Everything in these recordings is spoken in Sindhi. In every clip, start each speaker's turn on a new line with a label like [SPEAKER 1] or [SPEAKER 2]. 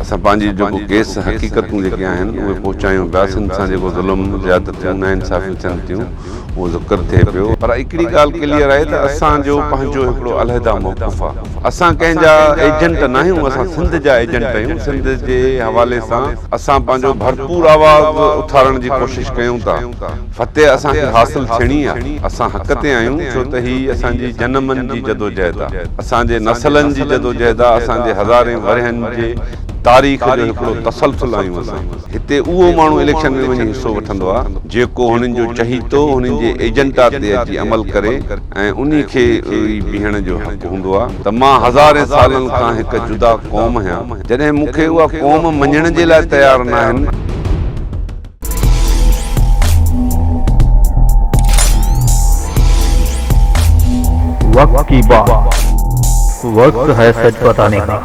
[SPEAKER 1] اسان پنهنجي جيڪو ڪيس، حقيقتون جيڪي آهن اهي پهچايون پيا، سنڌ سان جيڪو ظلم، زيادتيون، ناانصافيون ٿين ٿيون اهو ذڪر ٿئي پيو، پر هڪڙي ڳالهه ڪليئر آهي ته اسان جو پنهنجو هڪڙو علحده موقف آهي، اسان ڪنهن جا ايجنٽ ناهيون، اسان سنڌ جا ايجنٽ آهيون، سنڌ جي حوالي سان اسان پنهنجو ڀرپور آواز اٿارڻ جي ڪوشش ڪيون ٿا. فتح اسان کي حاصل ٿيڻي آ، اسان حق تي آهيون ڇو ته هي اسان جي جنمن جي جدوجهد آ، اسان جي نسلن جي جدوجهد آ، اسان جي هزارين ورهين جي تاريخ جو هڪڙو تسلسل آهيون اسان. هتي اهو ماڻهو اليڪشن ۾ وڃي حصو وٺندو آ، جيڪو هنن جو چهيتو، هنن جي ايجنڊا تي اچي عمل ڪري ۽ انهي کي ئي بيهڻ جو حق هوندو آ ته مان هزارين سالن کان هڪ جدا قوم هيان، جڏهن مون کي اها قوم مڃڻ جي لاء تيار ناهن.
[SPEAKER 2] وقت ڪي بات وقت هي سچ بتاني ڪا.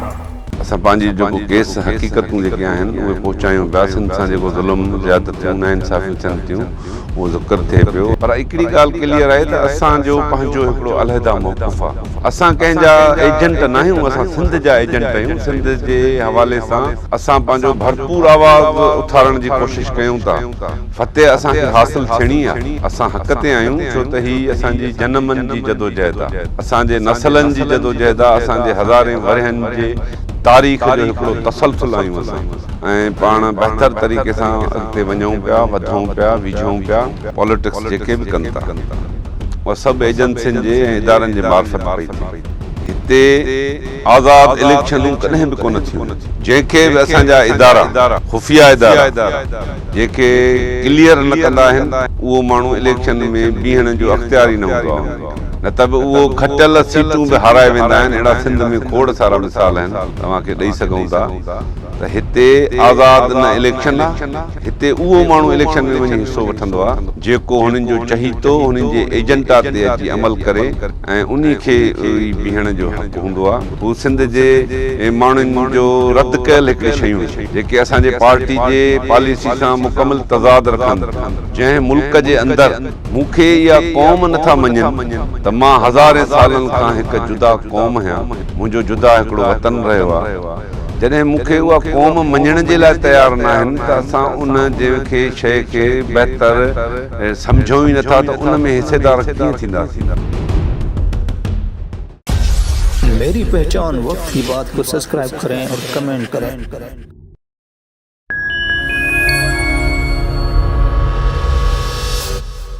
[SPEAKER 2] اسان پنهنجي
[SPEAKER 1] جيڪو ڪيس حقيقتون جيڪي آهن اهي پهچايون پيا سنڌ سان جيڪو ظلم زيادتيون نا انصافيون ٿين ٿيون اهو ذڪر ٿئي پيو. پر هڪڙي ڳالهه ڪليئر آهي ته اسان جو پنهنجو هڪڙو علحده موقف آ. اسان ڪنهن جا ايجنٽ ناهيون اسان سنڌ جا ايجنٽ اهيون سنڌ جي حوالي سان اسان پنهنجو ڀرپور آواز اٿارڻ جي ڪوشش ڪيون ٿا فتح اسان کي حاصل ٿيڻي آ اسان حق تي آهيون ڇو ته هي اسان جي جنمن جي جدوجهد آ اسان جي نسلن جي جدوجهد آ اسان جي هزارين ورهين جي تاريخ جو هڪڙو تسلسل آهيون اسان ۽ پاڻ بهتر طريقي سان اڳتي وڃون پيا وڌون پيا ويجهون پيا. پاليٽڪس جيڪي به ڪن ٿا اها سڀ ايجنسين جي ۽ ادارن جي معرفت پئي ٿي هتي آزاد اليڪشنون ڪڏهن به ڪونه ٿيون جنهن کي به اسان جا ادارا خفيه ادارا جيڪي ڪليئر نه ڪندا آهن اهو ماڻهو اليڪشن ۾ بيهڻ جو اختيار ئي نه هوندو آهي ان کي نه ته به اهو کٽيل سيٽون به هارائي ويندا آهن اهڙا سنڌ ۾ کوڙ سارا مثال آهن توهان کي ڏئي سگهون ٿا ته هتي آزاد نه اليڪشن آهي هتي اهو ماڻهو اليڪشن ۾ وڃي حصو وٺندو آهي جيڪو هنن جو چهيتو هنن جي ايجنڊا تي اچي عمل ڪري ۽ انهي کي ئي بيهڻ جو حق هوندو آهي هو سنڌ جي ماڻهن جو رد ڪيل هڪڙي شيون آهن جيڪي اسان جي پارٽي جي پاليسي سان مڪمل تضاد رکن ٿيون. جنهن ملڪ جي اندر مون کي يا قوم نه ٿا مڃين ته مان هزارين سالن کان هڪ جدا قوم هيان منهنجو جدا هڪڙو وطن رهيو آهي. جڏهن مون کي اها قوم مڃڻ جي لاء تيار ناهن ته اسان ان جنهن کي شيء کي بهتر سمجهون ئي نٿا ته ان ۾ حصيدار ڪيئن ٿينداسين.
[SPEAKER 2] ميري پهچان وقت ڪي بات ڪو سبسڪرائب ڪرين اور ڪمينٽ ڪرين.